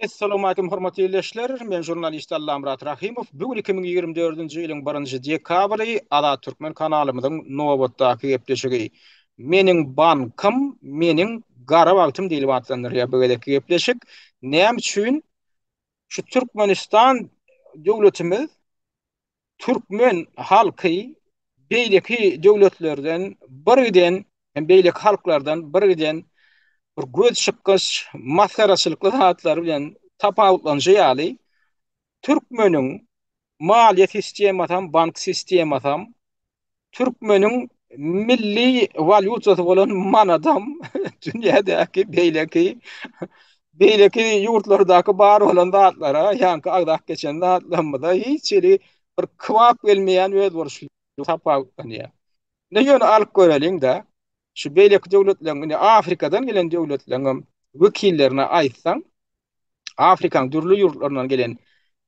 Assalamu aleykum hormatly ildeşler. Men jurnalist Allamyrat Rahymow. Bu gün 2024-nji ýylyň 1-nji dekabry Azat Türkmen kanalymyzyň nobatdaky gepleşigi. Meniň bankym, meniň gara wagtym diýlip atlandyrylýar bu gezekki gepleşik. Näme üçin şu Türkmenistan döwletimiz türkmen halky beýleki döwletlerden birgiden hem beýleki halklardan birgiden bir göz çykgyç masgaraçylykly zatlar bilen tapawutlanyşy ýaly türkmeniň maliýe sistemasy hem bank sistemasy hem Türkmeniň milli walýutasy bolan manadam dünýädäki beýleki beýleki ýurtlardaky bar bolan zatlara, ýaňky agzap geçen zatlarymyza hiç hili bir kybap gelmeýän özboluşly tapawutlanýar. Ne ýöne alyp göreliň-de, şu beýleki döwletleriň, indi Afrikadan gelen döwletleriň hem wekillerine aýtsaň, Afrikaň dürli ýurtlaryndan gelen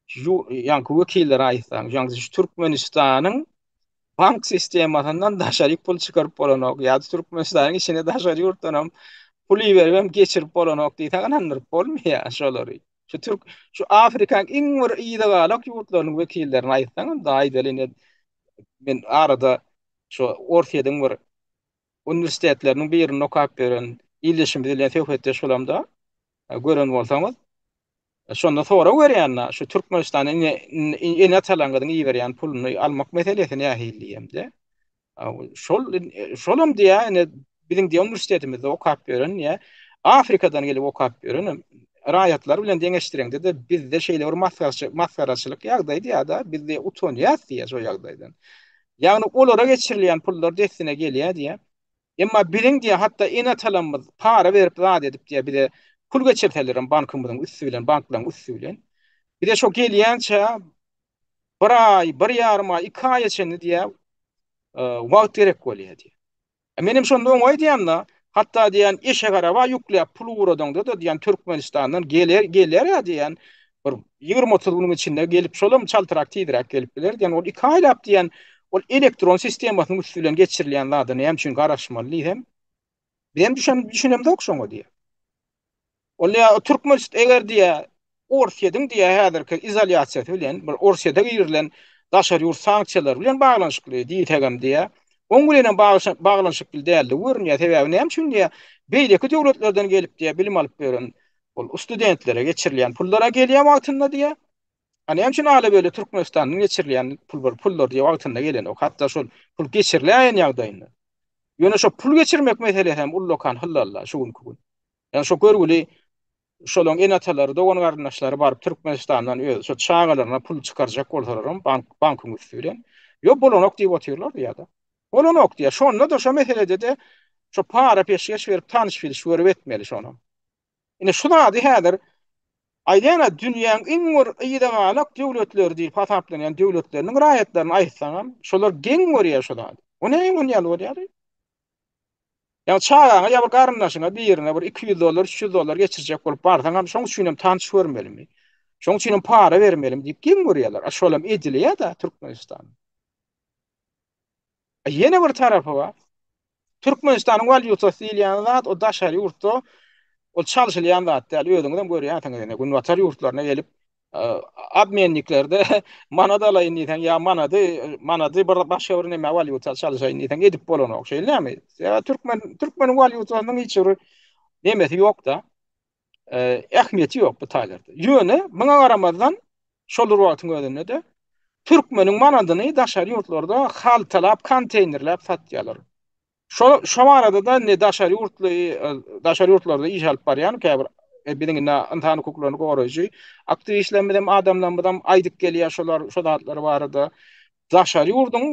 ýaňky wekillere aýtsaň, ýaňky şu Türkmenistanyň bank sistemasyndan daşary pul çykaryp bolanok, ýa-da Türkmenistanyň içine daşary ýurtdan hem pul iberip hem geçirip bolanok diýseň, ynandyryp bolmaýar şolary. Şu türk, şu Afrikaň iň bir yzygalak ýurtlarynyň wekillerine aýtsaň, onda aýdaly indi men arada şu Orsýetiň bir uniwersitetleriniň birinde okap ýören ildeşimiz bilen söhbetdeş bolamda, gören bolsaňyz, şonda sorag berýände, şu Türkmenistana ene-atalaryňyzyň iberýän puluny almak meselesi nähili diýemde, şol, şolam diýýär, ine, biziň diýe uniwersitetimizde okap ýören ýa Afrikadan gelip okap ýören raýatlar bilen deňeşdireňde de bizde şeýle bir masgaraçylyk ýagdaý diýýärdi, bizde utanýas diýýär şo ýagdaýdan. Ýagny olara geçirilýän pullar dessine gelýär diýýär. Emma biziň diýýär hatda ene-atalarymyz para berip zat edip diýýär bize pul geçirseler hem bankymyzyň üsti bilen, banklaryň üsti bilen. Bize şo gelýänçä bir aý, bir ýarym aý, iki aýa çenli diýýär wagt gerek bolýar diýýär. Menem şonda oňa aýdýan-da, hatda diýýän, eşek-araba ýükläp pul ugradaňda-da diýýän, Türkmenistandan geler, geler-ä diýýän, bir ýigrimi-otuz günüň içinde gelip, şolam çaltrak tizräk gelip biler diýýän, ol iki aýlap diýýän, ol elektron sistemasynyň üsti bilen geçirilýän zada näme üçin garaşmaly diýsem, bizem düşen, düşünemzok şoňa diýýän. Onda ya o Türkmen şit eger diye Orsýetiň diye häzirki izolýasiýasy bilen bir Orsýete girilen daşary ýurt sanksiýalary bilen baglanyşykly diýsegem diye oň bilen hem baglanyşykly däldi görünýär. Sebäbi näme üçin diye beýleki döwletlerden gelip diye bilim alyp ýören ol studentlere geçirilýän pullara gelýän wagtynda diye A näme üçin ala böyle Türkmenistandan geçirilýän pul bir pullar diýip wagtynda gelen ok hatda şol pul geçiriläýen ýagdaýynda. Ýöne şo pul geçirmek meselesi hem ullakan hyllalla şu günki gün. Ýa şo görgüli şolaň ene-atalary, dogan-garyndaşlary baryp Türkmenistandan öz şo çagalaryna pul çykarjak bolsalar hem bank bankyň üsti bilen ýok bolanok diýip otyrlar ýa-da. Bolanok diýär. Şonda-da şo meselede-de şo para peşgeş berip tanyş-bilişip görüp etmeli şonam. Ine şu zady häzir aýdana dünýäň iň bir yzagalak döwletleri diýip hasaplanýan döwletleriniň raýatlaryna aýtsaňam, şolar geň görýär şu zady. O näme muny ýaly bolýar? Ýa çagaňa ýa bir garyndaşyňa birine bir iki ýüz dollar, üç ýüz dollar geçirjek bolup barsaňam, şoň üçin hem tanyş görmelimi? Şoň üçin hem para bermelimi diýip geň görýärler. A şolam edilýär-de Türkmenistanda. Ýene bir tarapy bar. Türkmenistanyň walýutasy diýilýän zat o daşary ýurtda ol çalşylýan zat däl. Özüňiz hem görýänsiňiz indi günbatar ýurtlaryna gelip obmenniklerde manat alaýyn diýseň ýa manady manady bir başga bir näme walýuta çalşaýyn diýseň edip bolanok. Şeýlemi? Ýa türkmen türkmeniň walýutasynyň hiç bir nemesi ýok-da. e, ähmiýeti ýok bu taýlarda. Ýöne muňa garamazdan şol bir wagtyň özünde-de türkmeniň manadyny daşary ýurtlarda haltalap, konteýnerläp satýarlar. Şo şo barada-da ne daşary ýurtly e, daşary ýurtlarda iş alyp barýan käbir e, biziň indi ynsan hukuklaryny goraýjy aktiwistlerimiz hem adamlarymyz hem aýdyp gelýär şolar şo zatlar barada. Daşary ýurduň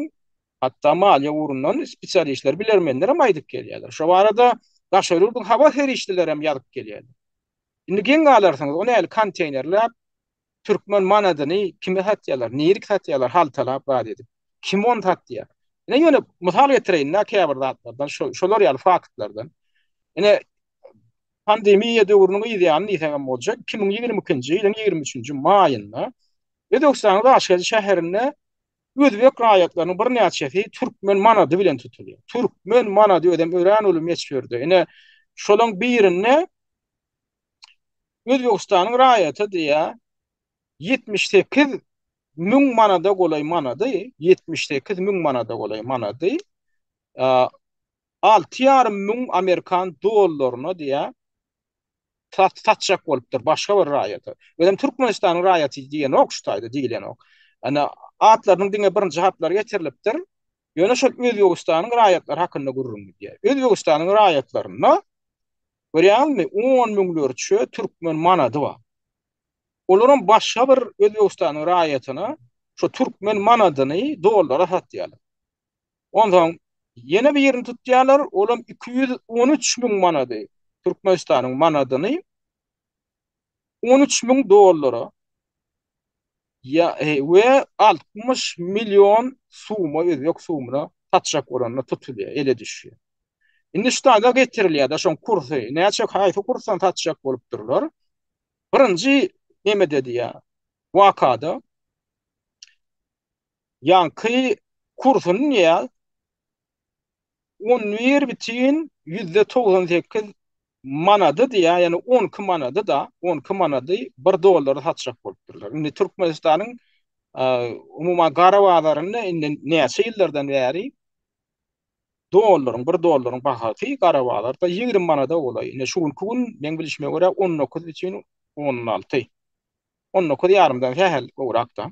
Hatda maliýe ugrundan spesialistler, bilermenler hem aýdyp gelýärler. Şo barada daşary ýurduň habar serişdeleri hem ýazyp gelýärler. Indi geň galarsyňyz, o nähili konteýnerläp, türkmen manadyny kime satýarlar, nirik satýarlar, haltalap zat edip. Kim ony satýar? Ine, ýöne mysal getireýin-dä käbir zatlardan, şolar ýaly faktlardan. Ine, pandemiýa döwrüniň yzýany diýsek hem boljak, iki müň ýigrimi ikinji ýylyň ýigrimi üçünji maýynda Özbegistanyň Daşkezi şäherinde Özbek raýatlarynyň birnäçesi türkmen manady bilen tutulýar. Türkmen manady özem örän uly möçberde. Ine, şolaryň birinde Özbegistanyň raýaty diýýär, ýetmiş sekiz müň manada golaý manady, ýetmiş sekiz müň manada golaý manady alty ýarym müň amerikan dollaryna diýýär, satjak bolupdyr başga bir raýata. Özem Türkmenistanyň raýaty diýenok şu taýda, diýilenok. Ýöne atlarynyň diňe birinji harplary getirilipdir. Ýöne şol Özbegistanyň raýatlary hakynda gürrüň gidýär. Özbegistanyň raýatlarynda, görýäňizmi, on müňlerçe türkmen manady bar. Olaram başga bir Özbegistanyň raýatyna şu türkmen manadyny dollara satýarlar. Onsoň ýene birini tutýarlar, olam iki ýüz on üç müň manady, Türkmenistanyň manadyny on üç müň dollara ýa we altmyş million suma, özbek sumyna satjak bolanda tutulýar, ele düşýär. Indi şu taýda getirilýär, daşoň kursy, näçe, haýsy kursdan satjak bolupdyrlar. Birinji nemede diýýär, wakada Ýaňky kursuny diýýär. On bir bütin ýüzde togsan sekiz manady diýýär, ýagny on iki manady-da, on iki manady bir dollary satjak bolup durlar. Indi Türkmenistanyň umuman gara bazarynda indi näçe ýyllardan bäri dollaryň, bir dollaryň bahasy gara bazarda ýigrimi manada golaý. Indi şu günki gün meň bilşime görä on dokuz bütin on alty. On dokuz ýarymdan sähel gowrak-da.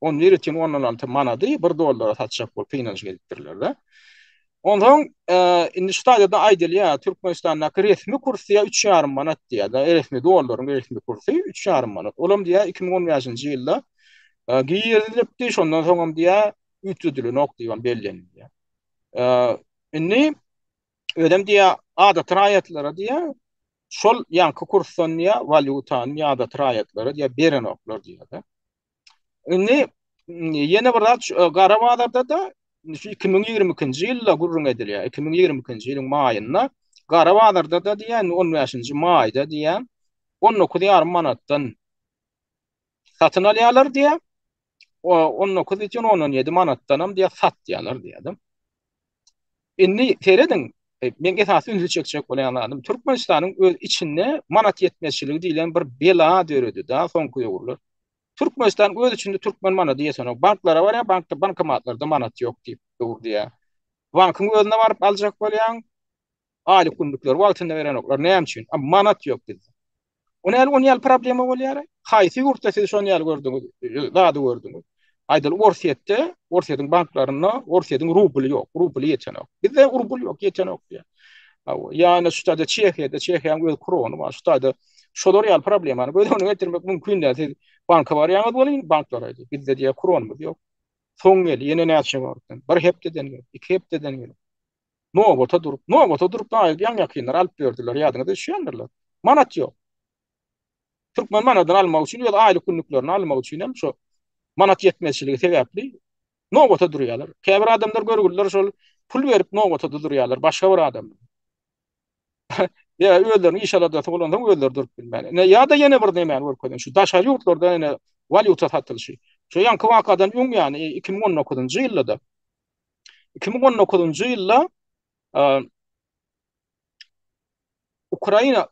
On nirä çyn ondan altı manady bir dollara satjak bolup peýnanç gelipdirler de. Ondan e, indi şu taýda aýdylýar, Türkmenistandaky resmi kurs ýa 3,5 manat diýýär. Da resmi dollaryň resmi kursy 3,5 manat. Olam diýýär 2015-nji ýylda e, girizilipdi, şondan soň hem diýýär üýtgedilenok diýip bellenilýär. E, indi özem diýýär adatly raýatlara diýýär Şol ýanky kursdan ýa walýutany ýadaty raýatlara ýa berenoklar diýýärler. Indi ýene bir zat gara bazarda da 2022-nji ýylda gürrüň edilýär. 2022-nji ýylyň maýynda gara bazarda da diýýän 15-nji maýda diýýän 19,5 manatdan satyn alýarlar diýýär. O 19 üçin 17 manatdanam diýýär satýarlar diýýär. Indi serediň, e, men esasy ünsi çekjek bolan zadym Türkmenistanyň öz içinde manat ýetmezçiligi diýlen bir bela döredi da soňky ýurlar. Türkmenistan öz içinde türkmen manady ýesene, banklara barýar, bankda bankomatlarda manat ýok diýip durýar. Bankyň özüne baryp aljak bolýaň, Aýlyk günlükleri wagtynda berenoklar. Näme üçin? A manat ýok bizde. O näme on ýaly problema bolýar? Haýsy ýurtda siz şon ýaly gördüňiz? Zady gördüňiz. Aýdyl Orsýetde, Orsýetiň banklarynda Orsýetiň rubly ýok. Rubly ýetenok. Bizde rubl ýok, ýetenok diýýär. Aw, ýa-da şu taýda Çehiýada, Çehiýaň öz krony bar. Şu taýda şolar ýaly problemany göz öňüne getirmek mümkin däl. Siz banka barýaňyz welin, banklar aýdyp, bizde diýýär kronymyz ýok. Soň gel, ýene näçe wagtdan? Bir hepdeden gel, iki hepdeden gel. Nobata durup, nobata durup da aýdýan ýakynlar alyp berdiler, ýadyňyza düşýändirler. Manat ýok. Türkmen manadyny almak üçin öz aýlyk günlüklerini almak üçin hem şo manat ýetmezçiligi sebäpli nobata durýarlar. Käbir adamlar görgüliler şol pul berip nobata durýarlar başga bir adam. Ýa özleriniň iş aladasy bolanda özleri durup bilmän. Ne ýa-da ýene bir nämäni görkezýän şu daşary ýurtlarda ýene walýuta satylşy. Şu ýanky wakadan öň ýany 2019-njy ýylda iki müň on dokuzynjy ýylda Ukraina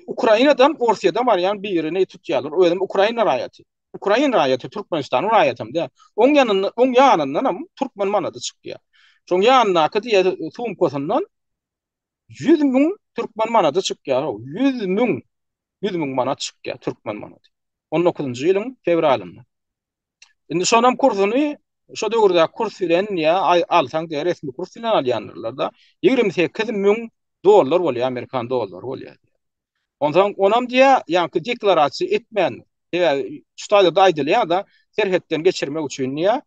Ukrainadan Orsiýada barýan birini tutýarlar. Özüm hem Ukraina raýaty. Ukraina raýaty Türkmenistan raýaty hem de. Oň ýanynda, oň ýanyndan hem türkmen manady çykýar. Şoň ýanyndaky diýe sumkasyndan 100 müň türkmen manady çykýar. 100 müň 100 müň manat çykýar türkmen manady. 19-njy ýylyň fewralynda. Indi şonam kursuny şu döwürde kurs bilen ýa alsaň diýe resmi kurs bilen alýanlar da 28 müň dollar bolýar amerikan dollary bolýar. Ondan onam diýe ýa-ki deklarasiýa etmän ýa ştaýda da aýdylýar da serhetden geçirmek üçin ýa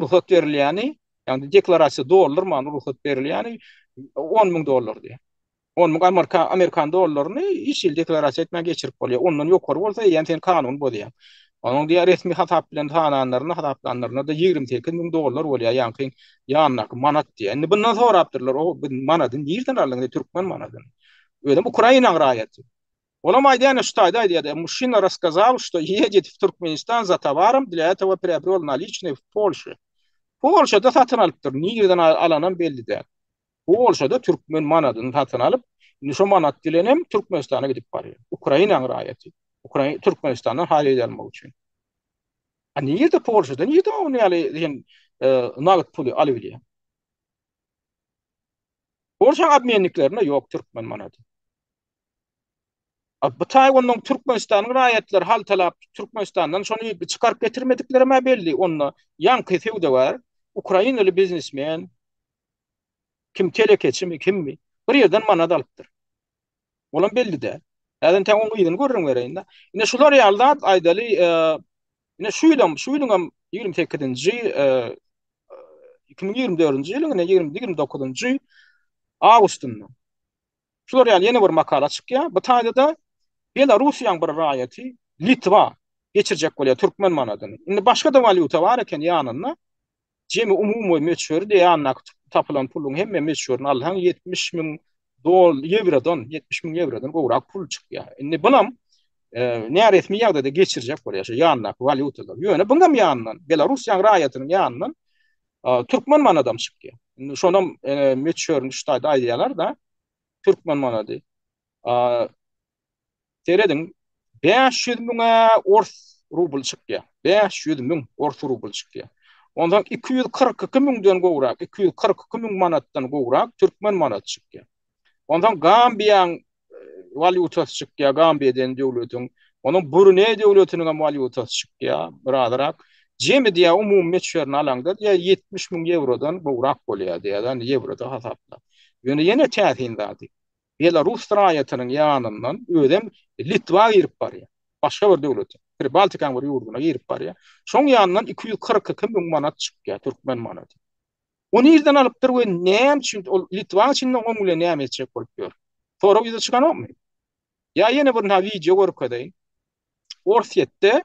rugsat berilýäni ýa-ni deklarasiýa doldurman rugsat berilýäni 10 müň dollar diýe. On müň amerika amerikan dollaryny iş ýyly deklarasiýa etmän geçirip bolýar. Ondan ýokary bolsa eýýäm sen kanuny bozýaň. Onuň diýýär resmi hasap bilen sananlarynda hasaplanlarynda-da ýigrimi sekiz müň dollar bolýar ýaňky ýanyndaky manat diýýär. Indi bundan sorapdyrlar o biz manady nirden aldyň indi türkmen manadyny. Özem Ukrainaň raýaty. Olam aýdýar ine şu taýda aýdýar-da Muşina raskazal şto ýejedit w Türkmenistan za towarom dla etowa priobral naliçnye w Polşi. Polşada satyn alypdyr nirden alanam belli däl. Bu bolşada türkmen manadyny satyn alyp, indi şo manat bilen hem Türkmenistana gidip barýar. Ukrainanyň raýaty. Ukraina Türkmenistandan haýyt almak üçin. A nirde Polşada nirde ony ýaly diýen e, nagt puly alyp bilýär. Polşa obmenniklerinde ýok türkmen manady. Bu Taýwandan Türkmenistanyň raýatlary haltalap Türkmenistandan şony çykaryp getirmediklerem-ä belli. Onda ýaňky söwdagär, ukrainaly biznesmen, kim telekeçimi, kimmi, bir ýerden manat alypdyr. Olam belli däl. Häzir entäk onuň yzyny görüňereýin-dä. Ine şular ýaly zat aýdaly, ine şu ýylam, şu ýylyňam ýigrimi sekizinji, iki müň ýigrimi dördünji ýylyň ine ýigrimi dokuzynjy awgustynda Şular ýaly ýene bir makala çykýar. Bu taýda-da Belarusiýanyň bir raýaty Litwa geçirjek bolýar türkmen manadyny. Indi başga-da walýuta bar eken ýanynda. Jemi umumy möçberi de ýanyndaky tapylan puluň hemme möçberini alsaň 70 müň dol ýewrodan, 70 müň ýewrodan gowrak pul çykýar. Indi bunam e, näresmi ýagdaýda geçirjek bolýar şu ýanyndaky walýutalary. Ýöne buňam ýanyndan Belarusiýanyň raýatynyň ýanyndan Türkmen manadam çykýar. Indi şonam möçberini şu taýda aýdýarlar-da. Türkmen manady. Serediň, 500 müňe ors rubl çykýar. 500 müň ors rubl çykýar. Ondan 242 müňden gowrak, 242 müň manatdan gowrak türkmen manady çykýar. Ondan Gambiýaň walýutasy çykýar, Gambiýa diýen döwletiň. Onuň Bruneý döwletiniň hem walýutasy çykýar, birazrak. Jemi diýýär, umumy möçberini alaňda diýýär, ýetmiş müň ýewrodan gowrak bolýar diýýär, ýagny ýewroda hasapla. Ýöne ýene täsin zady, belarus raýatynyň ýanyndan özem Litwa girip barýar, başga bir döwlete, Pribaltikaň bir ýurduna girip barýar. Şoň ýanyndan iki ýüz kyrk iki müň manat çykýar, türkmen manady. O nirden alypdyr we näme üçin ol Litwaň içinde oň bilen näme etjek bolup ýör? Sorag ýüze çykanokmy? Ýa ýene bir wideo görkezeýin. Orsýetde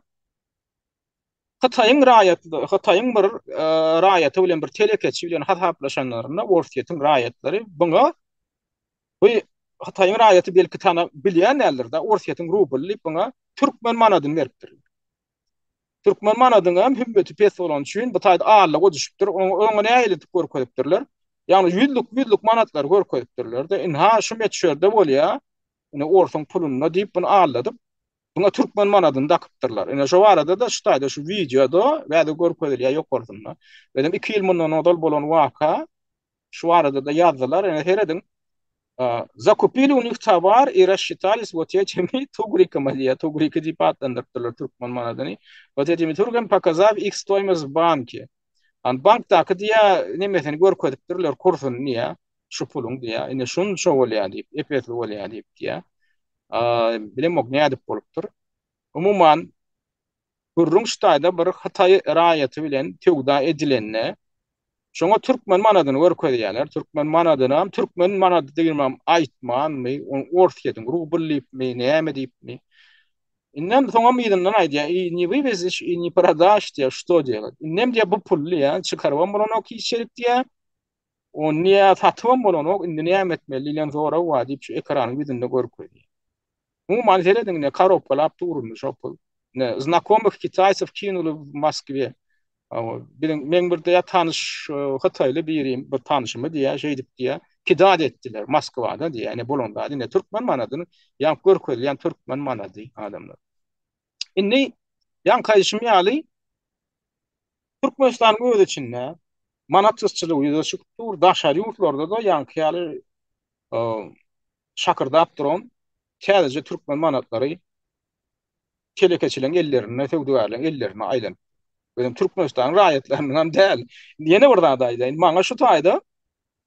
Hytaýyň raýaty, Hytaýyň bir e, raýaty bilen bir telekeçi bilen hasaplaşanlarynda Orsýetiň raýatlary buňa bu Hytaýyň raýaty belki tana bilýän däldir-de, Orsýetiň rubly diýip buňa türkmen manadyny beripdir. Türkmen manadyň hem hümmeti pes bolany üçin bu taýda allyga düşüpdir. Oňa nägiletip görkezipdirler. Ýagny ýüzlük, ýüzlük manatlary görkezipdirler-de, indi ha şu möçberde bolýar. Indi orsuň pulunda diýip bunu alladyp, buna türkmen manadyny dakypdyrlar. Indi şu barada-da şu taýda şu wideoda bäde görkezilýär ýokarsynda. Özem iki ýyl mundan ozal bolan waka, Şu barada-da ýazdylar, ine serediň. Zakupili u njih tovar i rasshittali s votećimi tugrikama diýýär, tugriki diýip atlandyrypdyrlar türkmen manadyny. Votećimi turgim pokazav ih stoýmost v banki. Ant bankdaky diýýär, nemesini görkezipdirler, kursuny diýýär, şu puluň diýýär. Ine şunça bolýar diýip, ep-esli bolýar diýip diýýär. Bilemok nädip bolupdyr. Umuman, gürrüň ştaýda bir hytaý raýaty bilen söwda edilende, şoňa türkmen manadyny görkezýärler, türkmen manadynam türkmen manady diýibem aýtmanmy, ony orsýetiň rubl diýipmi, näme diýipmi, indem soňam yzyndan aýdýar, i ne wywezişj, i ne prodaşj diýýär, što diýýär, indem diýýär, bu pul diýýär, çykarybam bolanok hiç ýerik diýýär, Ony niä satybam bolanok, indi näme etmeli diýlen sorag bar diýip şu ekranyň ýüzünde görkezýär. Umuman serediň ine karobkalap dur indi şo pul. Ine znakomyh kitaýsow kinuly w Moskwe. Biziň meň bir diýä tanyş hytaýly birim bir tanyşymy diýä şeýdip diýä pidat etdiler Moskwada diýä ine bolan zady ine türkmen manadyny ýaňk görkezilýän türkmen manady adamlar. Indi ýaňky aýdyşym ýaly Türkmenistanyň öz içinde manat gytçylygy ýüze çykyp dur, daşary ýurtlarda-da ýaňky ýaly şakyrdap duran täzeje türkmen manatlary telekeçileriň ellerinde, söwdagärleriň ellerinde aýlanyp Özem Türkmenistanyň raýatlarynyňam däl. Ýene bir zat aýdaýyn, maňa şu taýda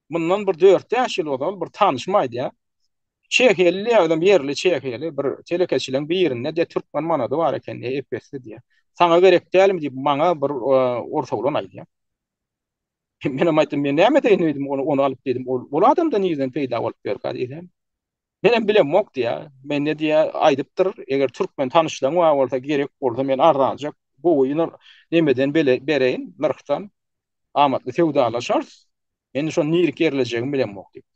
Mundan bir dört bäş ýyl ozal bir tanyşym aýdýar. Çehiýaly, özem ýerli çehiýaly bir telekeçiligiň birinde de türkmen manady bar eken diýýär, ep-esli diýýär. Saňa gerek dälmi diýip, maňa bir ors oglan aýdýar. Menem aýtdym, men näme edeýin öýdüm, ony alyp diýdim, ol adam-da nireden peýda bolup ýörkä diýdim. Menem bilemok diýä. Mende diýä aýdypdyr, eger türkmen tanyşlaň bar bolsa, gerek bolsa men arzanjak gowy ýyl nemeden bele bereýin, nyrhdan amatly söwdalaşarys. Men şony nirek ýerlejegimi bilemok diýip.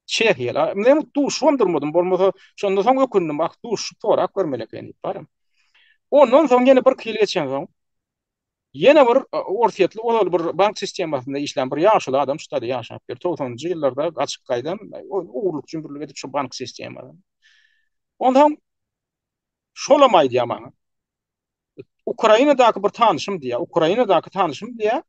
Çehiýala, men duşubam durmadym, bolmasa şondan soň ökündim, ah duşup sorap görmeli eken diýip barym. Ondan soň ýene birki ýyl geçensoň, Ýene bir orsýetli ozal bir bank sistemasynda işlän bir ýaşuly adam şu taýda ýaşapdyr. 90-njy ýyllarda gaçyp gaýdan, ogurlyk jümmürlik edip şu bank sistemadan. Onsoň şolam aýdýar maňa. Ukrainadaky bir tanyşym diýýär, Ukrainadaky tanyşym diýýär.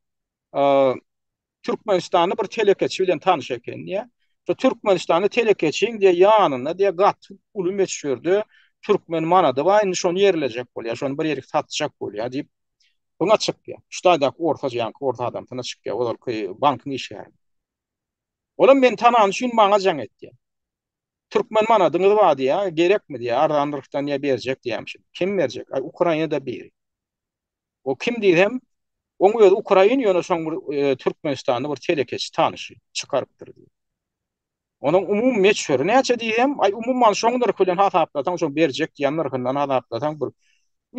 Türkmenistanly bir telekeçi bilen tanyş eken diýýär. Şu Türkmenistanly telekeçiň diýýär ýanynda diýýär gaty uly möçberde türkmen manady bar, indi şony ýerlejek bolýar, şony bir ýerik satjak bolýar diýip Buna çykýar. Ştaýdaky orta janky orta adamsyna çykýar, ozalky bankyň işgäri. Olam meni tanany üçin maňa jaň etdi. Türkmen manadyňyz bar diýýär, gerekmi diýýär, arzan nyrhdan diýýär berjek diýýämişin. Kim berjek? Aý Ukrainada biri. O kim diýsem, oň özi ukrain, ýöne şoň bir türkmenistanly bir telekeçi tanyşy çykarypdyr diýip. Onuň umumy meçhuri näçe diýsem, aý umuman şoň nyrhy bilen hasaplasaň, şo berjek diýen nyrhyndan hasaplasaň bir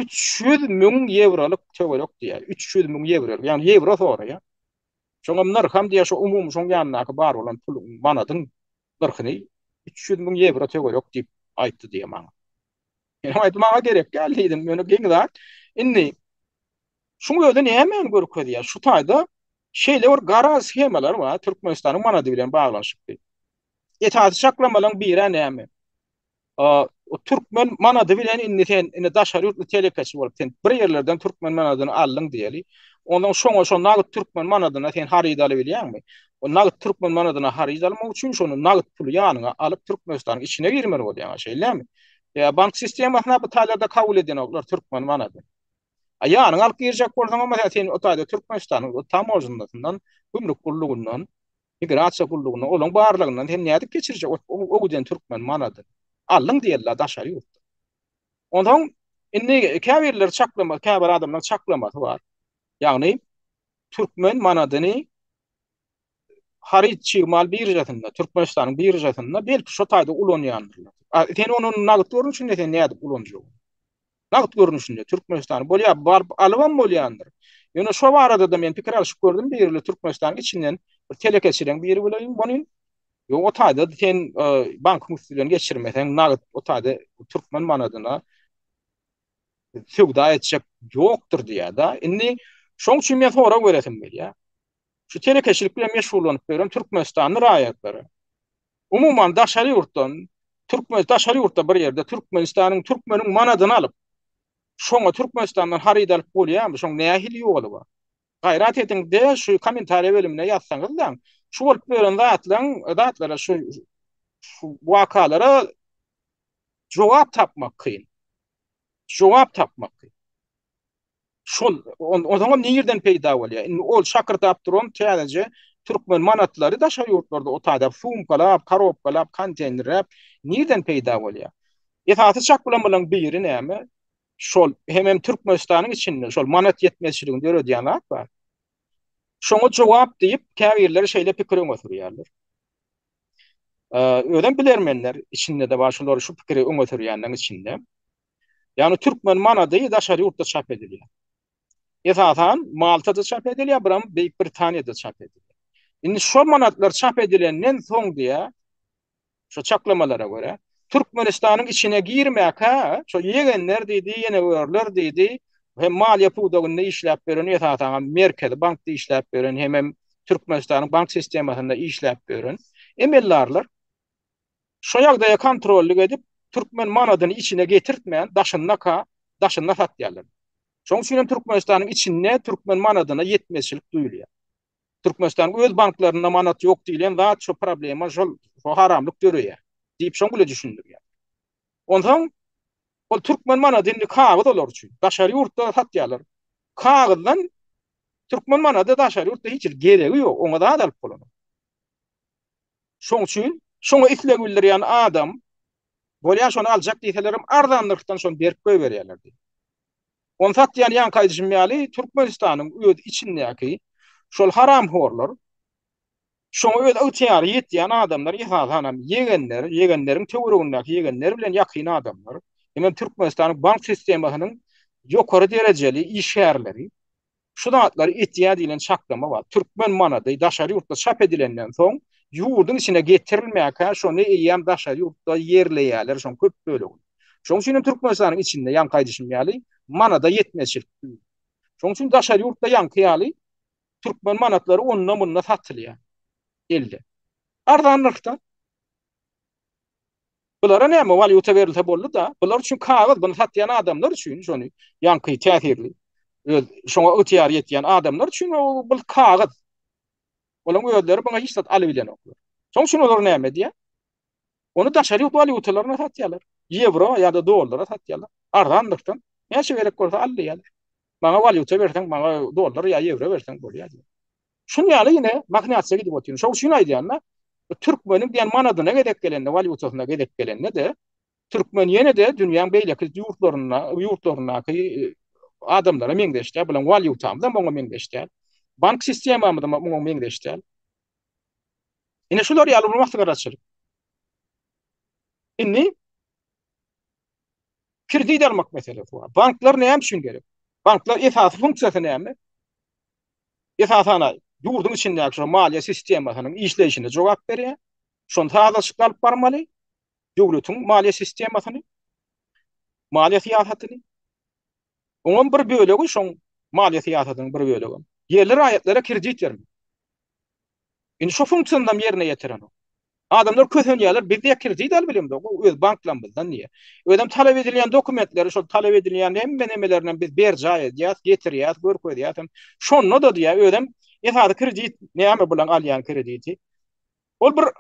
üç ýüz müň ýewrolyk töwerek diýýär. Üç ýüz müň ýewro, ýagny ýewro soraýar. Şoňam nyrham diýýär, şo umumy şoň ýanyndaky bar bolan puluň, manadyň nyrhyny üç ýüz müň ýewro töwerek diýip aýtdy diýýär maňa. Ýöne aýt maňa gerek däl diýdim. Ýöne geň zat. Indi şuň özi nämäni görkezýär? Şu taýda şeýle bir garaz schemalar bar, Türkmenistanyň manady bilen baglanyşykly. Esasy çaklamalaryň biri näme? O türkmen manady bilen indi sen indi daşary ýurtly telekeçi bolup sen bir ýerlerden türkmen manadyny aldyň diýeli. Ondan şoňa şo nagt türkmen manadyna sen haryt alyp bilýäňmi? O nagt türkmen manadyna haryt almak üçin şonu nagt puly ýanyňa alyp Türkmenistanyň içine girmeli bolýaň, şeýlemi? Ýa bank sistemasyna bu taýlarda kabul edinoklar türkmen manady. A ýanyňa alyp girjek bolsaň hem sen sen o taýda Türkmenistanyň o tamojnasyndan, gümrük gullugyndan, migrasiýa gullugyndan, olaň barlygyndan sen nädip geçirjek o giden türkmen manady? Aldyň diýerler daşary ýurtda. Onsoň indi käbirleri çaklama, käbir adamlaryň çaklamasy bar. Ýagny türkmen manadyny haryt çig mal biržasynda, Türkmenistanyň biržasynda belki şu taýda ulanýandyrlar. A, sen onu nagt görnüşinde sen nädip ulanjak? Nagt görnüşinde Türkmenistan bolýa barp alybam bolýandyr. Ýöne şu barada da men pikir alşyp gördüm, birli Türkmenistan içinden bir telekeçileň biri bilen bolýan. Ýok, o taýda sen e, bank müftüden geçirmeseň nagt o taýda türkmen manadyna söwda etjek ýokdur diýýär-de. Indi şoň üçin men sorag beresim gelýär. Şu telekeçilik bilen meşgullanyp ýören türkmenistanly raýatlary, umuman daşary ýurtdan, türkmen daşary ýurtda bir ýerde Türkmenistanyň türkmeniň manadyny alyp, şoňa Türkmenistandan haryt alyp bolýarmy? Şoň nähili ýoly bar? Gaýrat ediňde şu kommentariýa bölümine ýazsaňyzlaň. Şu bolup ýören zatlaň, zatlara şu şu wakalara jogap tapmak kyn. Jogap tapmak kyn. Şol o zaman nirden peýda bolýar? Indi ol şakyrdap duran täzeje türkmen manatlary daşary ýurtlarda otady, sumkalap, karobkalap, konteýnerläp nirden peýda bolýar? Esasy çak bilen bilen biri näme? şol hemem Türkmenistanyň içinde şol manat ýetmezçiligini döredýän zat bar. Şoňa jogap diýip, käbirler şeýle pikir öňe sürýärler. Özem bilermenler içinde-de bar, şolar şu pikiri öňe sürýänleriň içinde. Ýagny türkmen manady daşary ýurtda çap edilýär. Esasan Maltada çap edilýär, biram Beýik Britaniýada çap edilýär. Indi şol manatlar çap edilenden soň diýä, Şo çaklamalara görä, Türkmenistanyň içine girmäkä, şo ýegenler diýdi, ýenegörler diýdi, hem maliýe pudagynda işläp ýören, esasanam Merkezi bankda işläp ýören, hemem Türkmenistanyň bank sistemasynda işläp ýören emeldarlar şo ýagdaýa kontrollyk edip, türkmen manadyny içine getirtmän, daşyndaka, daşynda satýarlar. Şonuň üçin hem Türkmenistanyň içinde türkmen manadyna ýetmezçilik duýulýar. Türkmenistan öz banklarynda manat ýok diýlen zat şo problema şol haramlyk döreýär diýip şoň bile düşündirýär. Onsoň ol türkmen manady indi kagyz olar üçin. Daşary ýurtda satýarlar. Kagyzdan türkmen manady daşary ýurtda hiç hili geregi ýok. Oňa zat alyp bolanok. Şoň üçin şoňa isleg bildirýän adam bolýar şony aljak diýselerem arzan nyrhdan şony berip goýberýärler diýip. Ony satýan ýaňky aýdyşym ýaly Türkmenistanyň öz içindäki şol haramhorlar şoňa öz ygtyýary ýetýän adamlar esasanam ýegenler, ýegenleriň töweregindäki ýegenler bilen ýakyn adamlar, ýene Türkmenistanyň bank sistemasynyň ýokary derejeli işgärleri, Şu zatlary etýär diýlen çaklama bar. Türkmen manady daşary ýurtda çap edilenden soň, ýurduň içine getirilmänkä şony eýýäm daşary ýurtda ýerleýärler şoň köp bölegini. Şoň üçin hem Türkmenistanyň içinde ýaňky aýdyşym ýaly manada ýetmezçilik döl. Şoň üçin daşary ýurtda ýaňky ýaly türkmen manatlary onda-munda satylýar. Elde. Arzan nyrhda. Bulara näme walýuta berilse boldy-da, bular üçin kagyz, buny satýan adamlar üçin, şony ýaňky täsirli, öz şoňa ygtyýary ýetýän adamlar üçin bu kagyz. Olaryň özleri buňa hiç zat alybilenoklar. Şoň üçin olar näme edýär? Ony daşary ýurt walýutalaryna satýarlar. Ýewro ýa-da dollara satýarlar. Arzandyrdan näçe gerek bolsa alýarlar. Maňa walýuta berseň, maňa dollar ýa ýewro berseň bolýar diýip. Şun ýaly ýene mahnýatyja gidip otyryn. Şol üçin aýdýan-da, türkmeniň diýen manadyna gezek gelende, walýutasyna gezek gelende-de, türkmen ýene-de dünýäň beýleki ýurtlarynda, ýurtlaryndaky adamlara meňzeş däl, biziň walýutamyz hem oňa meňzeş däl. Bank sistemamyz hem oňa meňzeş däl. Ine şular ýaly bir maslahataçylyk. Indi Kredit almak meselesi bar. Banklar näme üçin gerek? Banklar esasy funksiýasy näme? Esasana ýurduň içindäki şu maliýe sistemasynyň işleýşine jogap berýär. Şony sazlaşykly alyp barmaly. Döwletiň maliýe sistemasyny, maliýe syýasatyny. Oňam bir bölegi şoň maliýe syýasatynyň bir bölegi. Ýerli raýatlara kredit bermek. Indi şu funksiýanam ýerine ýetirenok. Adamlar kösenýärler, biz diýýä kredit alyp bilemizok, bu öz banklamyzdan diýýä. Özem talap edilýän dokumentleri, şol talap edilýän hemme nemelerinem biz berjaý edýäs, getirýäs, görkezýäs hem. Şonda-da diýýä, özem esasy kredit näme bilen alýan krediti? Ol bir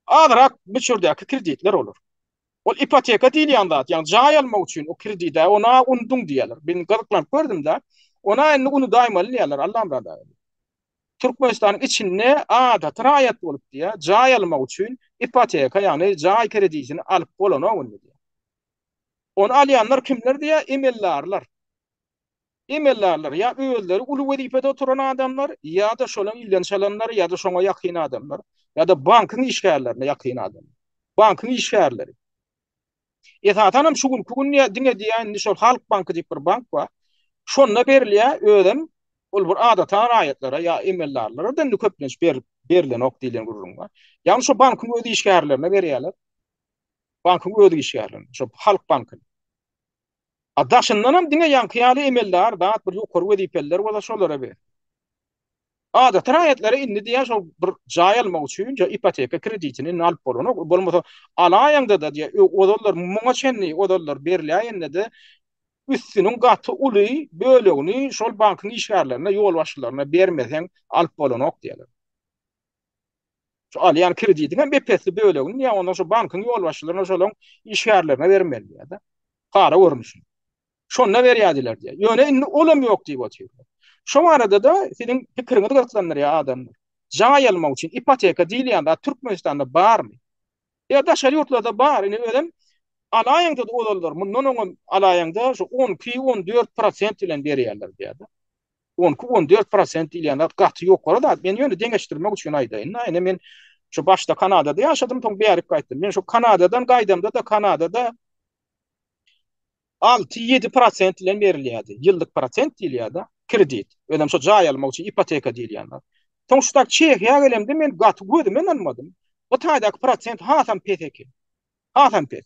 Azyrak möçberdäki kreditler bolar. Ol ipoteka diýilýän zat, ýagny jaý almak üçin o kredit-ä, ony-a unduň diýýärler. Men gyzyklanyp gördüm-de, ony-a indi unudaýmaly diýýärler, Allamyrat aga. Türkmenistanyň içinde adaty raýat bolup diýýär, jaý almak üçin ipoteka, ýagny jaý kreditini alyp bolanok indi diýýär. Ony alýanlar kimler diýýär, emeldarlar. Emeldarlar ýa özleri uly wezipede oturan adamlar, ýa-da şonuň ilinden çalanlar, ýa-da şoňa ýakyn adamlar, ýa-da bankyň işgärlerine ýakyn adamlar. Bankyň işgärleri. Esasan hem şu günki gün ýa diňe diýýän indi şol Halk banky diýip bir bank bar. Şonda berilýär, özem ol bir adata raýatlara ýa emeldarlara-da indi köplenç berip berilenok diýlen gürrüň bar. Ýagny şo bankyň öz işgärlerine berýärler. Bankyň öz işgärlerine, şo Halk bankynyň. A daşyndanam diňe ýaňky ýaly emeldar zat bir ýokary wezipeliler bolsa şolara ber. Adaty raýatlara indi diýýär şol bir jaý almak üçin ja ipoteka kreditini indi alyp bolanok. Bolmasa alaýaňda-da diýýär ozallar muňa çenli ozallar berläýende-de üstüniň gaty uly bölegini şol bankyň işgärlerine ýolbaşçylaryna bermeseň alyp bolanok diýýärler. Şu alýan kreditiň hem ep-esli bölegini ýa ondan şu bankyň ýolbaşçylaryna şolaryň işgärlerine bermeli ýa-da para görnüşinde. Şonda berýärdiler diýýär. Ýöne indi ol hem ýok diýip otyrlar. Şu barada-da siziň pikiriňizi gyzyklandyrýar adamlar. Jaý almak üçin ipoteka diýilýän zat Türkmenistanda barmy? Ýa daşary ýurtlarda bar, indi özem alaýaňda-da ozallar, mundan oňam alaýaňda şu on iki, on dört prosent bilen berýärler diýýärdi. On iki, on dört prosent diýilýän zat gaty ýokary zat. Men ýöne deňeşdirmek üçin aýdaýyn-da, indi men şu başda Kanadada ýaşadym, soň bärik gaýtdym. Men şu Kanadadan gaýdamda-da, Kanadada Alty-ýedi prosent bilen berilýärdi. Ýyllyk prosent diýilýär-de, kredit. Özem şo jaý almak üçin ipoteka diýilýän zat. Soň şu taýda Çehiýa gelemde men gaty gözüme ynanmadym. Bu taýdaky prosent hasam pes eken. Hasam pes.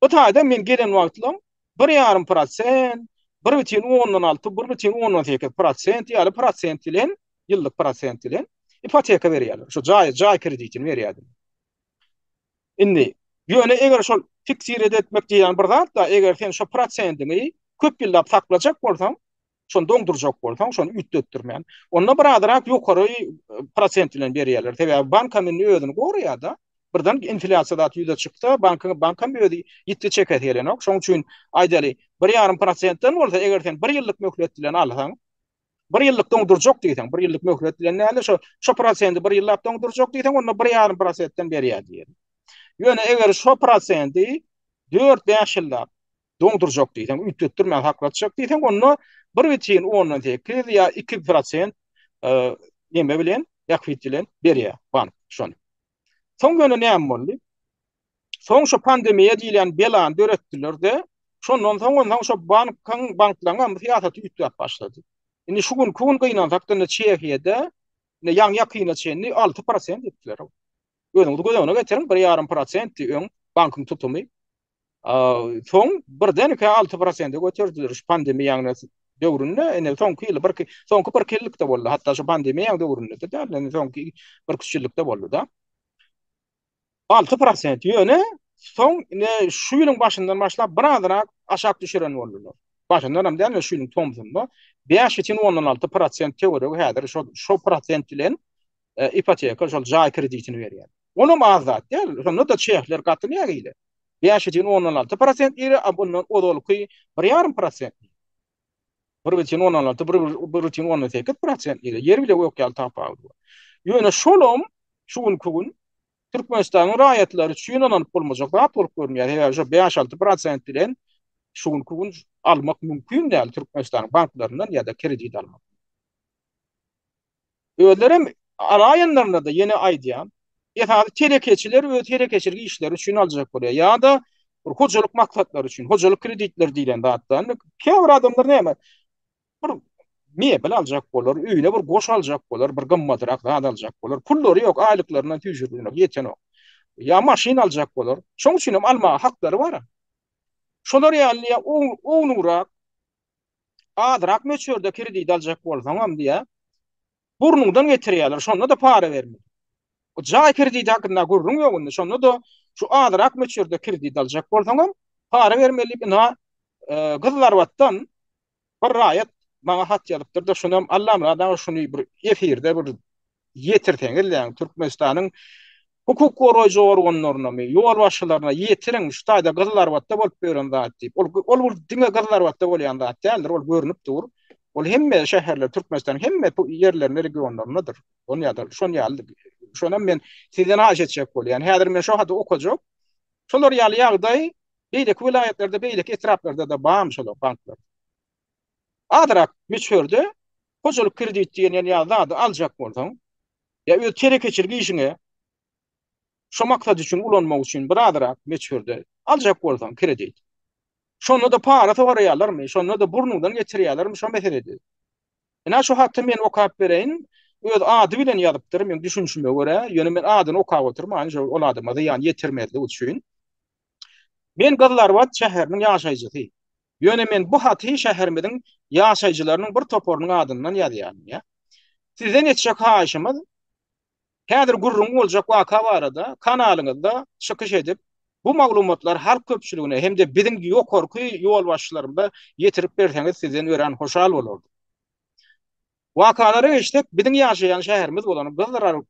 Bu taýda men gelen wagtlam bir ýarym prosent, bir bütin ondan alty, bir bütin ondan sekiz prosent ýaly prosent bilen, ýyllyk prosent bilen ipoteka berýärler. Şo jaý, jaý kreditini berýärdiler. Indi, ýöne eger şol fiksirede etmek diýýän bir zat-da, eger sen şo prosendiňi köp ýyllap saklajak bolsaň, şony doňdurjak bolsaň, şony üýtgetdirmän, onda bir azrak ýokary prosent bilen berýärler. Sebäbi bank hem indi özüni goraýar-da. Birden inflýasiýa zat ýüze çyksa, bankyň, bank hem özi ýitgi çekesi gelenok. Şonuň üçin, aýdaly, bir ýarym prosentden bolsa, eger sen bir ýyllyk möhlet bilen alsaň, bir ýyllyk doňdurjak diýseň, bir ýyllyk möhlet bilen näle şo şo prosenti bir ýyllap doňdurjak diýseň, onda bir ýarym prosentden berýär diýer. Ýöne eger şo prosenti 4-5 ýyllap doňdurjak diýseň, üýtgetdirmän saklatjak diýseň, onda 1,8 ýa 2 prosent e, näme bilen, ýakwit bilen berýär bank şony. Soň ýöne näme boldy? Soň şu pandemiýa diýilýän belany döretdiler-de, şondan soň onsoň şu bankyň, banklaryň hem syýasaty üýtgäp başlady. Indi şu günki gün gynansak-da indi Çehiýada indi ýaňy-ýakyna çenli alty prosent etdiler. Özüňiz göz öňüne getiriň, bir ýarym prosentdi öň bankyň tutumy. Soň birdenkä alty prosente göterdiler şu pandemiýanyň döwründe, indi soňky ýyl birki, soňky birki ýylykda boldy, hatda şu pandemiýanyň döwründe-de däl, indi soňky birki üç ýylykda boldy-da. Alty prosent, ýöne soň ine şu ýylyň başyndan başlap birazrak aşak düşüren boldular. Başyndan hem däl, şu ýylyň tomsunda bäş üçin ondan alty prosent töweregi häzir şo, şo prosent bilen e, ipoteka, şol jaý kreditini berýär. Onam az zat däl. Şonda da çehler gaty nägile. 5,16% iri, a bundan ozalky 1,5%. 1,16, 1,18% iri. Ýer bile gök ýaly tapawut bar. Ýöne şolam şu günki gün Türkmenistanyň raýatlary üçin ynanyp bolmajak zat bolup görünýär. Sebäbi şu 5-6% bilen şu günki gün almak mümkin däl Türkmenistanyň banklaryndan ýa-da kredit almak. Özlerem alaýanlarynada ýene aýdýan, esasy telekeçiler öz telekeçilik işleri üçin aljak bolýar ýa-da bir hojalyk maksatlary üçin, hojalyk kreditleri diýlen zatdan. Käbir adamlar näme, bir mebel aljak bolar, öýüne bir goş aljak bolar, bir gymmatrak zat aljak bolar. Pullary ýok, aýlyklaryndan süýşürdinok, ýetenok. Ýa maşyn aljak bolar. Şonuň üçinem almaga haklary bar. Şolar ýaly ýa ownugrak Azrak möçberde kredit aljak bolsaňam diýä. Burnuňdan getirýärler. Şonda-da para berme. O jaý krediti hakynda gürrüň ýok indi. Şonda-da şu azrak möçberde kredit aljak bolsaňam para bermeli diýip ina e, gyzlarbatdan bir raýat maňa hat ýazypdyr-da, şonam Allamyrat aga şuny bir efirde bir ýetirseňiz däň Türkmenistanyň hukuk goraýjy organlarynamy, ýolbaşçylaryna ýetiriň, şu taýda Gyzyl Arbatda bolup ýören zat diýip. Ol ol diňe Gyzyl Arbatda bolýan zat däldir, ol görnüp dur. Ol hemme şäherler Türkmenistanyň hemme ýerlerinde, regionlaryndadyr. Ol ýa-da şon ýaly şonam men sizden haýyş etjek bolýan. Häzir men şo haty okajak. Şolar ýaly ýagdaý beýleki welaýatlarda, beýleki etraplarda-da barmy şolar banklar? azrak möçberde hojalyk kredit diýen ýa ýa zady aljak bolsaň, ýa öz telekeçilik işiňe şu maksat üçin ulanmak üçin bir azrak möçberde aljak bolsaň kredit. Şonda-da para soraýarlarmy, şonda-da burnuňdan geçirýärlermi şo meseledi. Ine şu haty men okap bereýin, öz ady bilen ýazypdyr meň düşünişime görä, ýöne men adyny okap oturman şo ol adama zyýan ýetirmezlik üçin. Men Gyzlarbat şäheriniň ýaşaýjysy. Ýöne men bu haty şäherimiziň ýaşaýjylarynyň bir toparynyň adyndan ýazýaryn, ýa. Sizden etjek haýyşymyz, häzir gürrüňi boljak waka barada kanalyňyzda çykyş edip, bu maglumatlary halk köpçüligine hem-de biziň ýokarky ýolbaşçylarymyza ýetirip berseňiz sizden örän hoşal bolardyk. Wakalary eşitsek, biziň ýaşaýan şäherimiz bolan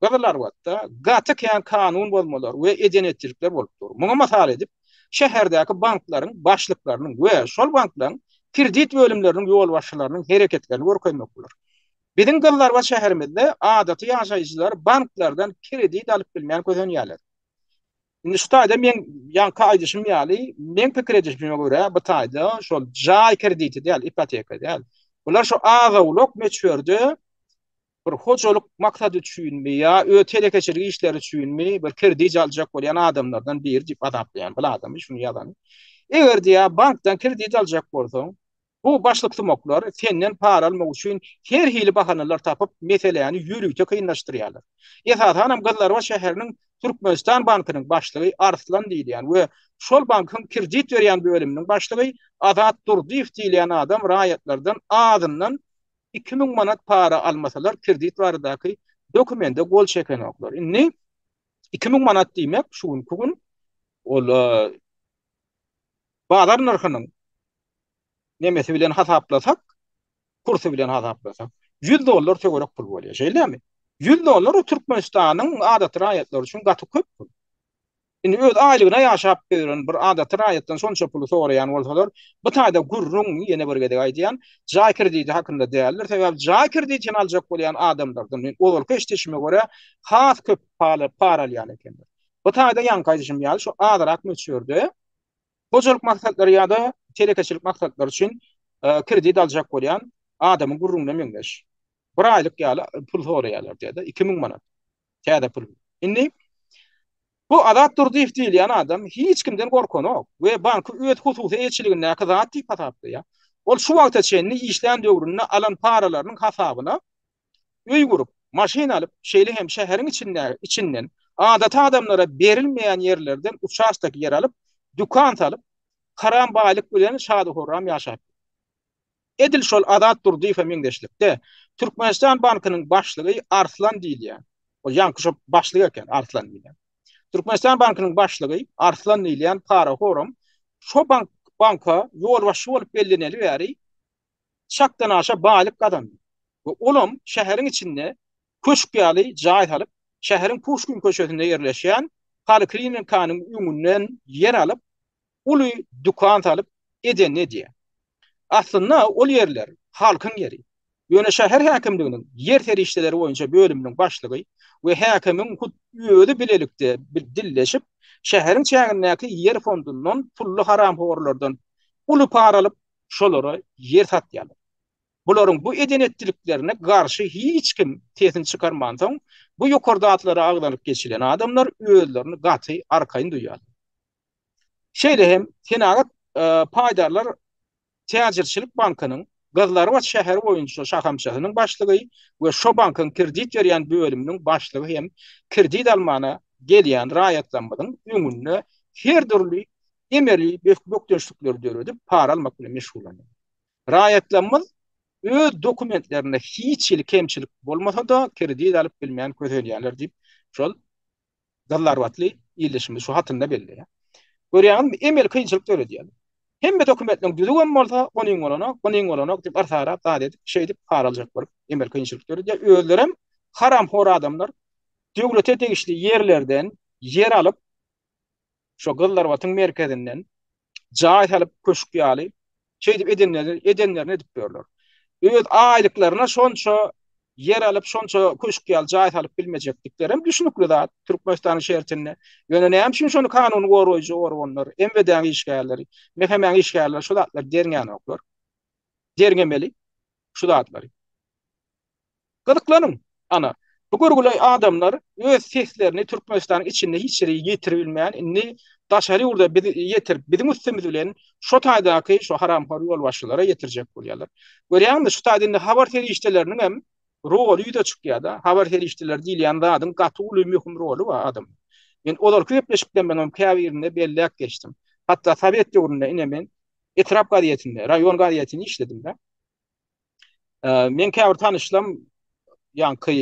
Gyzylarbatda gaty kän kanun bozmalar we eden-etjlikler bolup dur. Muňa mysal edip, şäherdäki banklaryň başlyklarynyň we şol banklaryň kredit bölümleriniň ýolbaşçylarynyň hereketlerini görkezmek bolar. Biziň Gyzylarbat şäherimizde adaty ýaşaýjylar banklardan kredit alyp bilmän kösenýärler. Indi şu taýda men ýaňky aýdyşym ýaly, men pikir edişime görä, bu taýda şol jaý krediti däl, ipoteka däl. Bular şu az-owlak möçberde bir hojalyk maksady üçinmi ýa öz telekeçilik işleri üçinmi bir kredit aljak bolýan adamlardan biri diýip azaplaýan bu adamy şuny ýazan. Eger diýä bankdan kredit aljak bolsaň, Bu başlyksumaklar senden para almak üçin her hili bahanalar tapyp, meseläni ýörite kynlaşdyrýarlar. Esasanam Gyzlarbat şäheriniň Türkmenistan bankynyň başlygy Arslan diýilýän we şol bankyň kredit berýän bölüminiň başlygy Azat Durdyýew diýilýän adam raýatlardan azyndan iki müň manat para almasalar kredit baradaky dokumende gol çekenoklar. Indi iki müň manat diýmek şu günki gün ol bazar nyrhynyň nemesi bilen hasaplasak, kursy bilen hasaplasak, 100 dollar töwerek pul bolýar, şeýlemi? 100 dollar Türkmenistanyň adaty raýatlary üçin gaty köp pul. Indi öz aýlygyna ýaşap ýören bir adaty raýatdan şonça puly soraýan bolsalar, bu taýda gürrüň, ýene bir gezek aýdýan, jaý krediti hakynda däldir, sebäbi jaý kreditini aljak bolýan adamlardan, men ozalky eşidişime görä, has köp para alýan ekenler. Bu taýda ýaňky aýdyşym ýaly, şu azrak möçberde Hojalyk maksatlary ýa-da telekeçilik maksatlary üçin kredit aljak bolýan adamyň gürrüňine meňzeş. Bir aýlyk ýaly pul soraýarlar diýýär-de, iki müň manat. Täze pul. Indi bu Azat Durdyýew diýilýän adam hiç kimden gorkanok we banky öz hususy eýeçiligindäki zat diýip hasaplaýar. Ol şu wagta çenli işlän döwründe alan paralarynyň hasabyna öý gurup, maşyn alyp, şeýle hem şäheriň içindäki, içinden, adaty adamlara berilmeýän ýerlerden uçastok ýer alyp, dükan salyp, haram baýlyk bilen şadyhorram ýaşapdyr. Edil şol Azat Durdyýewe meňzeşlikde, Türkmenistan bankynyň başlygy Arslan diýilýän, ol ýaňky şo başlyk eken, Arslan diýilýän. Türkmenistan bankynyň başlygy Arslan diýilýän parahoram şo bank, banka ýolbaşçy bolup belleneli bäri çakdanaşa baýlyk gazandy we olam şäheriň içinde köşk ýaly jaý salyp, şäheriň Puşkin köçesinde ýerleşýän poliklinikanyň öňünden ýer alyp, uly dükan salyp, edenini edýär. Aslynda ol ýerler halkyň ýeri. Ýöne şäher häkimliginiň ýer serişdeleri boýunça bölüminiň başlygy we häkimiň hut özi bilelikde dilleşip, şäheriň çägindäki ýer fondundan pully haramhorlardan uly para alyp, şolara ýer satýarlar. Bularyň bu eden-etdiliklerine garşy hiç kim sesini çykarmansoň, bu ýokarda atlary agzalyp geçilen adamlar özlerini gaty arkaýyn duýýarlar. Şeýle hem Senagat paýdarlar täjirçilik bankynyň Gyzlarbat şäheri boýunça şahamçasynyň başlygy we şo bankyň kredit berýän bölüminiň başlygy hem kredit almana gelýän raýatlarymyzyň öňünde her dürli emeli bökdençlikleri döredip, para almak bilen meşgullanýar. Raýatlarymyz öz dokumentlerinde hiç hili kemçilik bolmasa-da, kredit alyp bilmän kösenýärler diýip, şol gazlarbatly ildeşimiz şu hatynda belleýär. Görýäňizmi, emeli kynçylyk döredýärler. Hemme dokumentleriň düzüw hem bolsa, onyň bolanok, bunyň bolanok diýip, artarap zat edip, şeýdip para aljak bolup, emeli kynçylyk döredýär. Özleri hem haramhor adamlar döwlete degişli ýerlerden ýer alyp, şo gyzlarbatyň merkezinden jaý salyp köşk ýaly şeýdip edenleri edenlerini edip ýörler. Öz aýlyklaryna şonça ýer alyp şonça köşk ýaly jaý salyp bilmejekdiklerem düşnükli zat Türkmenistanyň şertinde. Ýöne näme üçin şony kanuny goraýjy organlar, MWD-niň işgärleri, MHM-niň işgärleri şu zatlary derňänoklar? Derňemeli şu zatlary. Gyzyklanyň! Ana, bu görgüli adamlar öz seslerini Türkmenistanyň içinde hiç ýere ýetiribilmän, indi daşary ýurda biz ýetirip, biziň üstümiz bilen şo taýdaky şo haramhor ýolbaşçylara ýetirjek bolýarlar. Görýäňmi, şu taýda indi habar serişdeleriniň hem roly ýüze çykýar-da. Habar serişdeleri diýilýän zadyň gaty uly möhüm roly bar adamlar. Men ozalky gepleşiklerimiziň käbirinde belläp geçdim. Hatda sowet döwründe ine men etrap gazetinde, raýon gazetinde işledim-de. Men käbir tanyşlam ýaňky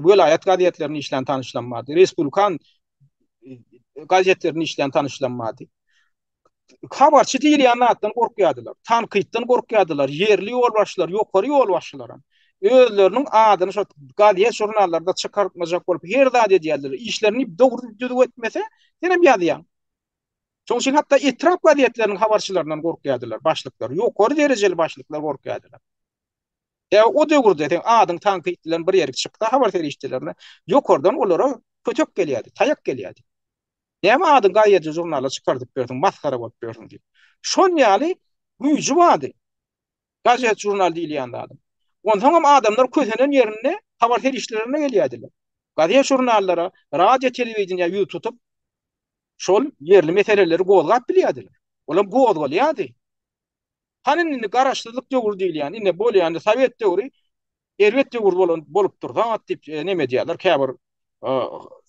welaýat gazetlerinde işlän tanyşlam bardy. Respublikan gazetlerinde işlän tanyşlam bardy. Habarçy diýilýän zatdan gorkýardylar. Tankytdan gorkýardylar. Ýerli ýolbaşçylar, ýokary ýolbaşçylar hem. özleriniň adyny şo gazet žurnallarda çykartmajak bolup her zat edýärler. Işlerini dogry düzüp etmese, senem ýazýaň. Şoň üçin hatda etrap gazetleriniň habarçylaryndan gorkýardylar başlyklar, ýokary derejeli başlyklar gorkýardylar. Ýa o döwürde sen adyň tankyt bilen bir ýerik çyksa habar serişdelerine ýokardan olara kötek gelýärdi, taýak gelýärdi. Näme adyň gaýedy žurnala çykardyp berdiň, masgara bolup berdiň diýip. Şol ýaly güýji bardy. Gazet žurnal diýilýän zady. Onsoň hem adamlar kösenen ýerinde habar serişdelerine gelýärdiler. Gazet žurnallara, radio telewideniýe ýüz tutup şol ýerli meseleleri gozgap bilýärdiler. Olam gozgalýardy. Hany indi garaşsyzlyk döwür diýilýän, indi bolýan sowet döwri erbet döwür bolan bolupdyr. Zat diýip e, neme diýýärler käbir e,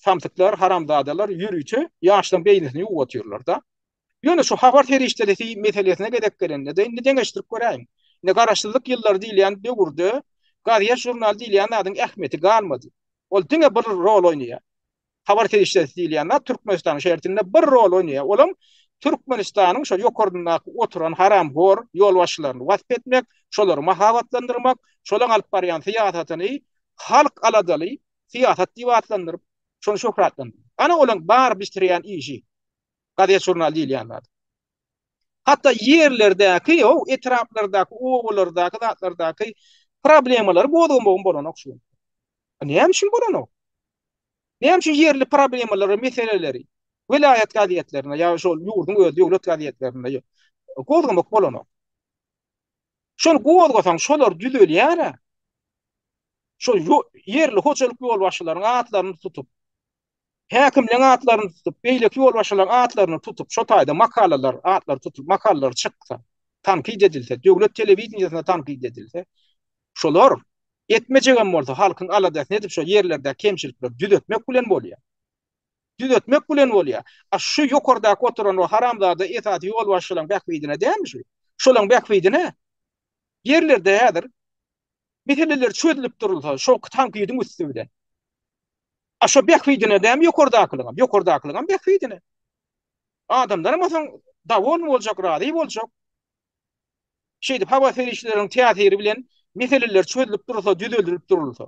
samsyklar, haramzadalar ýörüçe ýaşlaryň beýnisini ýuwup otyrlar-da. Ýöne şu habar serişdelisi meselesine gezek gelende de indi deňeşdirip göräýiň. Indi garaşsyzlyk ýyllary diýilýän döwürde gazýet žurnal diýilýän adyň ähmiýeti galmady. Ol diňe bir rol oýnaýar. Habar serişdesi diýilýän zat Türkmenistanyň şertinde bir rol oýnaýar. Olam Türkmenistanyň şo ýokaryndaky oturan haramhor ýolbaşçylaryny wasp etmek, şolary mahabatlandyrmak, şolaň alyp barýan syýasatyny halk aladaly syýasat diýip atlandyryp, şony şöhratlandyrmak. Ana olaň bar bitirýän işi. Gazet-žurnal diýilýän zat. Hatda ýerlerdäki, o etraplardaky, obalardaky zatlardaky problemalary gozgamagyň bolanok şu gün. Näme üçin bolanok? Näme üçin ýerli problemalary, meseleleri welaýat gazetlerinde ýa-da şol ýurduň öz döwlet gazetlerinde gozgamak bolanok? Şony gozgasaň, şolar düzelýär-ä. Şol ýerli hojalyk ýolbaşçylaryň atlaryny tutup, häkimleň atlaryny tutup, beýleki ýolbaşçylaryň atlaryny tutup, şo taýda makalalar, atlary tutup, makalalar çyksa, tankyt edilse, döwlet telewideniýesinde tankyt edilse, Şolar, etmejegem bolsa, halkyň aladasyny edip, şo ýerlerdäki kemçilikleri düzetmek bilen bolýar. Düzetmek bilen bolýar. A şu ýokardaky oturan o haramzada esasy ýolbaşçylaryň bähbidine dälmi şu? Şolaryň bähbidine. Ýerlerde häzir meseleler çözülip durulsa, şo tankydyň üsti bilen. A şo bähbidine dälmi ýokardakylaryň? Ýokardakylaryň bähbidine. Adamlaram bolsa dowolny boljak, razy boljak. Şeýdip howa serişdeleriniň täsiri bilen meseleler çözülip durulsa, düzeldilip durulsa.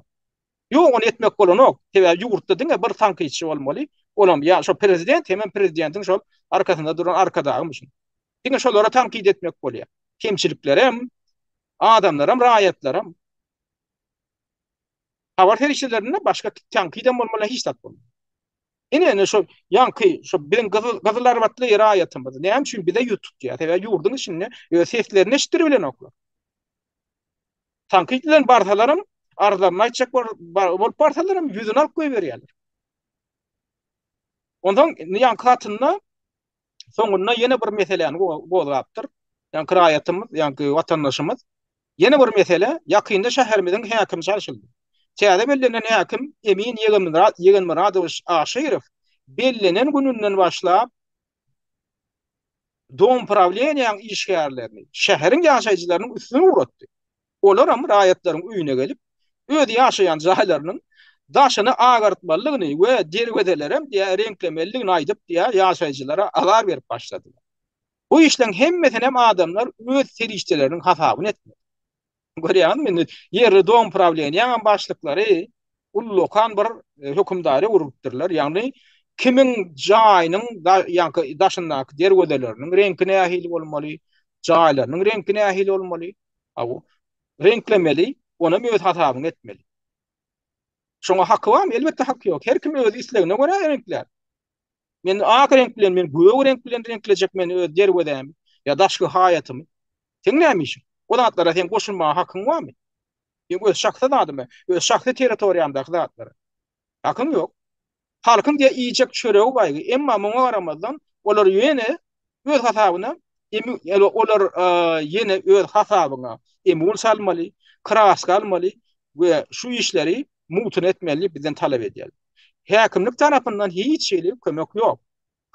Ýok, ony etmek bolanok. Sebäbi ýurtda diňe bir tankytçy bolmaly. Olam ýa şo prezident, hemem prezidentiň şol arkasynda duran arkadagy müşin. Diňe şolara tankyt etmek bolýar. Kemçiliklerem, adamlaram, raýatlaram. Habar serişdelerinde başga tankyt hem bolmaly, hiç zat bolmaly. Ine-ine şo ýaňky şo biziň gyzyl gyzylarbatly raýatymyz näme üçin bize ýüz tutýar? Sebäbi ýurduň içinde öz seslerini eşitdirip bilenoklar. Tankyt bilen barsalaram, arzlaryny aýtjak bolup barsalaram ýüzüni alyp goýberýärler. Onsoň ýaňky hatynda soňunda ýene bir meseläni gozgapdyr. Ýa kiraýatymyz, ýa watandaşymyz ýene bir mesele, ýakynda şäherimiziň häkimi çalşyldy. Täze bellenen häkim Emin Ýegenmyradowiç Aşyrow bellenen gününden başlap Domprawleniýäň işgärlerini, şäheriň ýaşaýjylarynyň üstüne ugratdy. olaram raýatlaryň öýüne gelip, öz ýaşaýan jaýlarynyň daşyny agartmalydygyny we derwezelerem diýýär reňklemelidigini aýdyp diýýär ýaşaýjylara azar berip başladylar. Bu işleň hemmesinem adamlar öz serişdeleriniň hasabyna etmeli. Görýäňizmi indi ýerli domprawleniýaňam başlyklary ullakan bir hökümdary urupdyrlar, ýagny kimiň jaýynyň daşyndaky derwezeleriniň reňki nähili bolmaly, jaýlarynyň reňki nähili bolmaly, Aw. Reňklemeli, onam öz hasabyňa etmeli. Şoňa haky barmy? Elbetde haky ýok. Her kim öz islegine görä reňklär. Men ak reňk bilen, men gök reňk bilen reňklejek men öz derwezämi ýa daşky haýatymy. Seň näme işiň? O zatlara seň goşulmaga hakyň barmy? Seň öz şahsy zadymy? Öz şahsy territoriýaňdaky zatlara. Hakyň ýok. Halkyň diýe iýjek çöregi baýgy, emma muňa garamazdan, olar ýene öz hasabyna olar ýene öz hasabyna emul salmaly, kraska almaly we şu işleri mugtuna etmeli diýip bizden talap edýärler. Häkimlik tarapyndan hiç hili kömek ýok.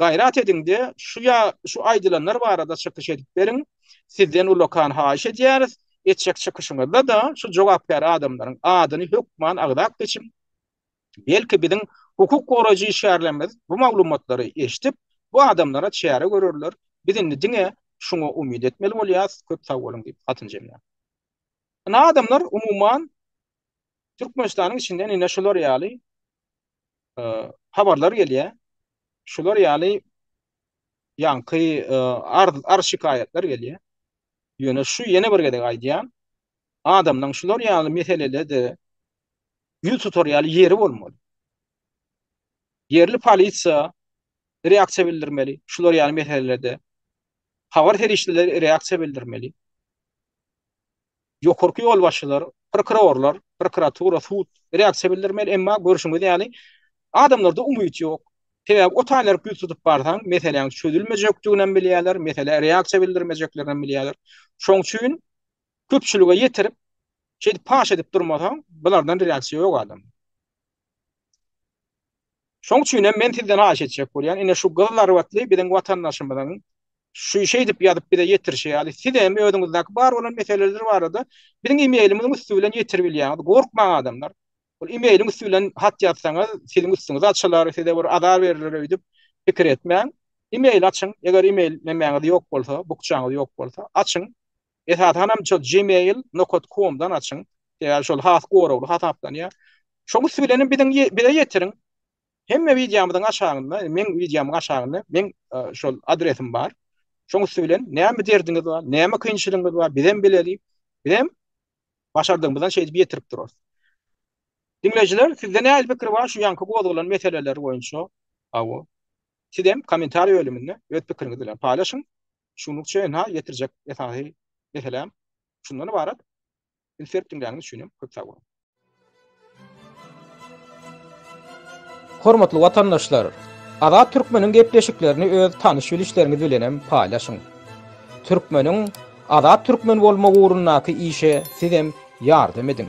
Gaýrat ediňde şu ýa şu aýdylanlar barada çykyş edip beriň. Sizden ullakan haýyş edýäris. Etjek çykyşyňyzda-da şu jogapkär adamlaryň adyny hökman agzap geçiň. Belki biziň hukuk goraýjy işgärlerimiz bu maglumatlary eşdip bu adamlara çäre görerler. Biz indi diňe şuňa umyt etmeli bolýas. Köp sag boluň diýip hatyny jemlär. Ine adamlar umuman Türkmenistanyň içinden ine şular ýaly habarlar gelýär. Şular ýaly ýaňky arz şikaýatlar gelýär. Ýöne şu ýene bir gezek aýdýan, adamlaryň şular ýaly meselelerde ýüz tutar ýaly ýeri bolmaly. Ýerli polisiýa reaksiýa bildirmeli, şular ýaly meselelerde. Habar serişdeleri reaksiýa bildirmeli. Ýokarky ýolbaşçylar, prokurorlar, prokuratura, sud reaksiýa bildirmeli, emma görşüňiz ýaly, adamlarda umyt ýok. Sebäbi o taýlary ýüz tutup barsaň, meseläň çözülmejekdiginem bilýärler, meselä reaksiýa bildirmejeklerinem bilýärler. Şoň üçin köpçülige ýetirip, şeýdip paş edip durmasaň, bulardan reaksiýa ýok adamda. Şoň üçin hem men sizden haýyş etjek bolýan, ine şu gyz zarbatly biziň watandaşymyzyň şu şeýdip ýazyp bize ýetirişi ýaly siz hem özüňizdäki bar bolan meseleler barada biziň imeýlimiziň üsti bilen ýetirip bilýäňiz. Gorkmaň adamlar. Ol imeýliň üsti bilen hat ýazsaňyz siziň üstüňiz açylar, size bir azar berler öýdüp pikir etmäň. Imeýl açyň, eger imeýl nämäňiz ýok bolsa, bukjaňyz ýok bolsa açyň. Esasanam şol Gmail nokat komdan açyň. Sebäbi şol has goragly hasaplanýar. Şoň üsti bilenem biziň bize ýetiriň. Hemme wideomyzyň aşagynda, meň wideomyň aşagynda meň şol adresim bar. Şoň üsti bilen näme derdiňiz bar, näme kynçylygyňyz bar, bizem bileli. Bizem başardygymyzdan şeýdip ýetirip durarys. Diňleýjiler, sizde nähili pikir bar şu ýaňky gozgalan meseleler boýunça? Hawa. Sizem kommentariýa bölüminde öz pikiriňizi bilen paýlaşyň. Şunluk çenha ýetirjek esasy meselem şundan ybarat. Insert diňläniňiz üçin hem köp sag boluň. Hormatly watandaşlar, Azat Türkmeniň gepleşiklerini öz tanyş bilişleriňiz bilen hem paýlaşyň. Türkmeniň Azat Türkmen bolmagy ugrundaky işe siz hem ýardam ediň.